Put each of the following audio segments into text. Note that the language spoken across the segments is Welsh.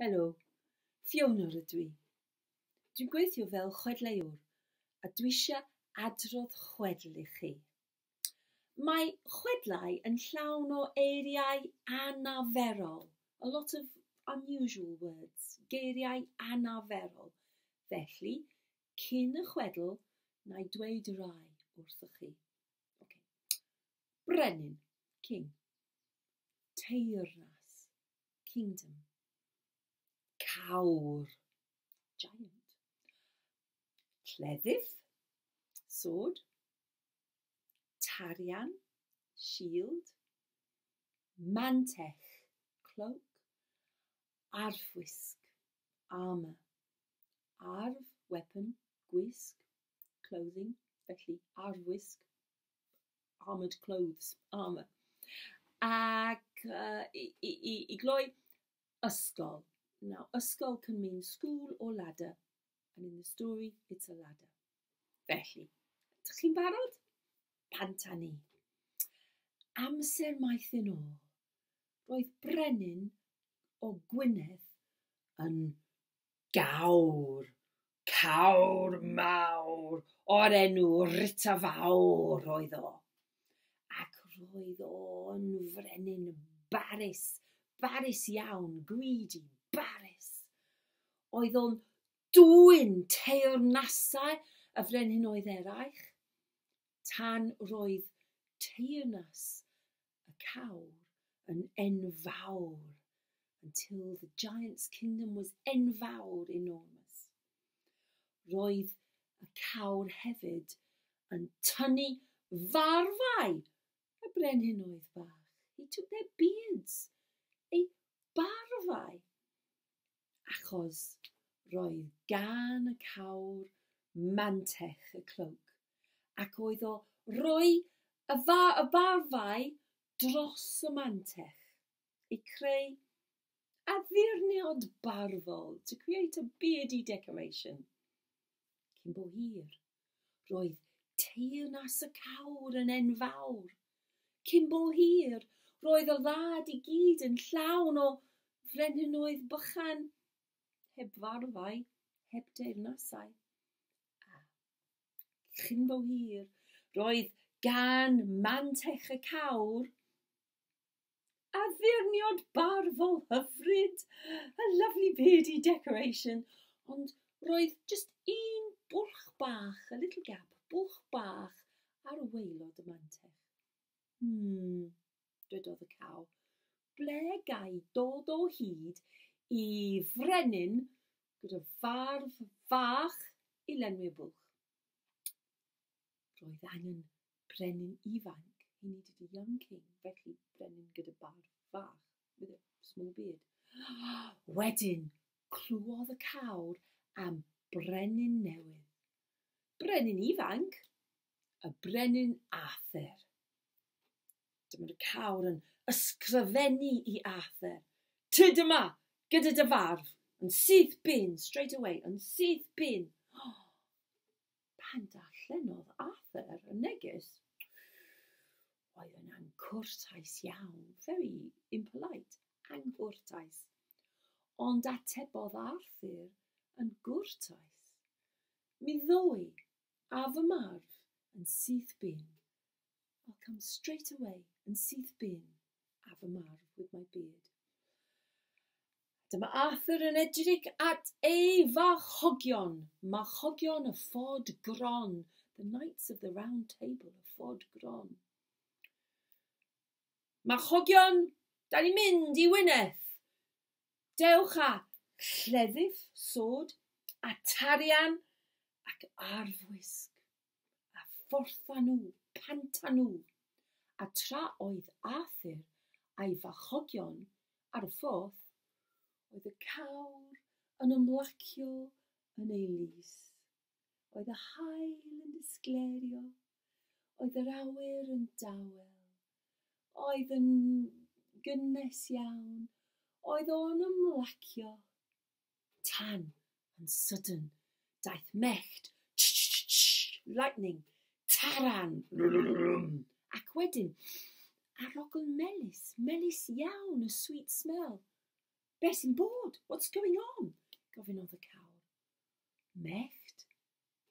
Helo, Fiona rydw i. Dwi'n gweithio fel chwedleuwr a dwi eisiau adrodd chwedl i chi. Mae chwedlau yn llawn o eiriau anaferol, a lot of unusual words, geiriau anaferol, felly cyn y chwedl na i dweud y rhai wrthoch chi. Ok. Brenin, king. Teyrnas, kingdom. Cawr, giant. Cleddyf, sword. Tarian, shield. Mantell, cloak. Arfwisg, armour. Arf, weapon, gwisg, clothing, felly arfwisg, armoured clothes, armour. Ac uh, i, i, i, i gloi, ysgol. Now, ysgol can mean school or ladder. And in the story, it's a ladder. Felly, ydych chi'n barod? Pant a ni. Amser maith yn ôl, roedd brenin o Gwynedd yn gawr, cawr mawr o'r enw Rita Fawr oedd o, ac roedd o'n frenin barus, barus iawn, greedy, barus. Oedd o'n dwyn teyrnasau y frenhinoedd eraill, tan roedd teyrnas y cawr yn enfawr, until the giant's kingdom was enfawr, enormous. Roedd y cawr hefyd yn tynnu farfau y brenhinoedd bach. He took their beards, ei barfau. achos roedd gan y cawr mantell y clwg, ac oedd o roi y fa- y barfau dros y mantell i creu addurniad barddol, to create a beardy decoration, cyn bo hir. Roedd Teyrnas y Cawr yn enfawr. Cyn bo hir, roedd y wlad i gyd yn llawn o frenhinoedd bychan, heb farddau, heb deyrnasau. A chyn bo hir, roedd gan Mantech y Cawr addurniad barfol hyfryd, a lovely beardy decoration, ond roedd just un bwlch bach, a little gap, bwlch bach ar waelod y mantell. Hmm, dwedodd y caw, ble gai dod o hyd i frenin gyda farf fach i lenwi'r bwlch? Roedd angen brenin ifanc, he needed a young king, felly brenin gyda barf fach, with a small beard. Wedyn, clywed y cawr am brenin newydd. Brenin ifanc, y brenin Arthur. Dyma'r cawr yn ysgrifennu i Arthur. Tyd yma, gyda dy farf, yn syth bin, straight away, yn syth bin. Pan darllenodd Arthur y neges, oedd yn anghwrtais iawn, very impolite, anghwrtais. Ond atebodd Arthur yn gwrtais. Mi ddoe, a fy marw, yn syth bin. I'll come straight away, yn syth bin, a fy marw, with my beard. Dyma Arthur yn edrych at ei farchogion, marchogion y Ford Gron, the Knights of the Round Table, y Ford Gron. Marchogion, da ni'n mynd i Wynedd. Dewch a lleddyf, sod, a tarian ac arfwisg. a phortha nhw, panta nhw, a tra oedd Arthur a'i farchogion ar y ffordd, oedd y cawr yn ymlacio yn ei lys, oedd y haul yn disgleirio, oedd yr awyr yn dawel, oedd yn gynnes iawn, oedd o'n ymlacio Tan, yn sydyn, daeth mellt, lightning, taran, ac wedyn, arogl melys, melys iawn, a sweet smell. Be sy'n bod? What's going on? gofynnodd y cawr. Mellt,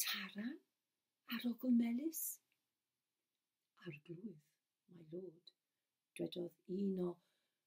taran, arogl melys. Arglwydd, my lord, dwedodd un o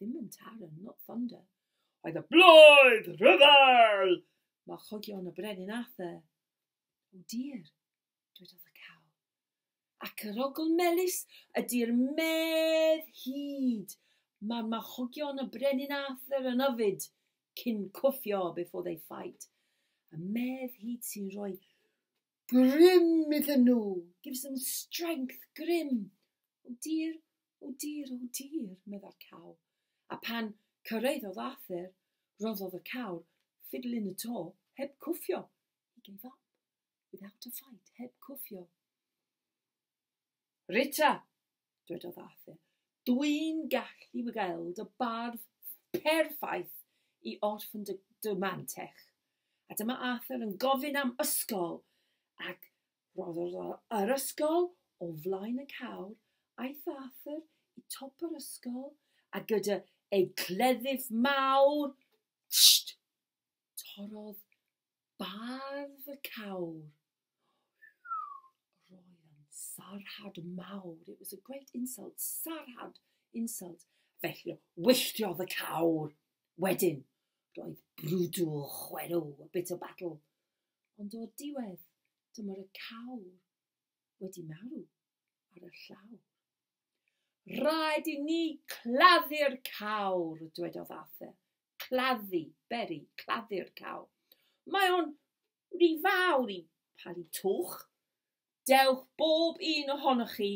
Ddim yn Taran, not Thunder. Oedd y blwydd rhyfel! Mae chogion y brenin Arthur. O dir, dwedodd y caw. Ac yr ogl melus ydy'r medd hyd. Mae'r machogion y brenin Arthur yn yfyd cyn cwffio before they fight. Y medd hyd sy'n rhoi grym iddyn nhw. Gives them strength, grym. O dir, o dir, o dir, meddai'r cawl. A pan cyrraeddodd Arthur, roddodd y cawr ffidl yn y to, heb cwffio. He gave up, without a fight, heb cwffio. Rita! dwedodd Arthur. Dwi'n gallu gweld y bardd perffaith i orffen dy, dy mantell. A dyma Arthur yn gofyn am ysgol, ac roedd yr ysgol o flaen y cawr. Aeth Arthur i top yr ysgol, a gyda ei gleddyf mawr, tst, torrodd Bardd y Cawr. Roedd yn sarhad mawr. It was a great insult. Sarhad, insult. Felly, wylltiodd y cawr. Wedyn, roedd brwdw, chwerw, a bit of battle. Ond o'r diwedd, dyma'r y cawr wedi marw ar y llawr. Rhaid i ni claddu'r cawr, dwedodd Arthur. claddu, beri, claddu'r cawl. Mae o'n rhy fawr i palu twch. Dewch bob un ohonoch chi,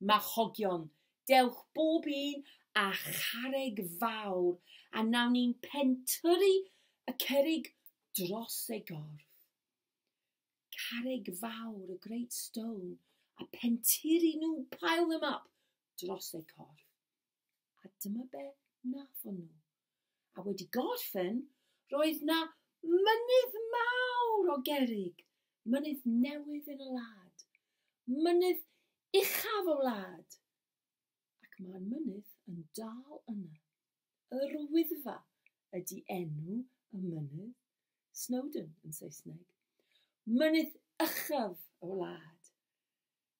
machogion. Dewch bob un a chareg fawr, a nawn ni'n pentyrru y cerig dros ei gorff. Carreg fawr, y great stone, a pentyrru nhw, pile them up, dros ei corff. A dyma be wnaethon nhw. A wedi gorffen, roedd na mynydd mawr o gerrig, mynydd newydd yn y wlad, mynydd uchaf y wlad. Ac mae'r mynydd yn dal yna. Yr Wyddfa ydy enw y mynydd, Snowdon yn Saesneg. Mynydd uchaf y wlad.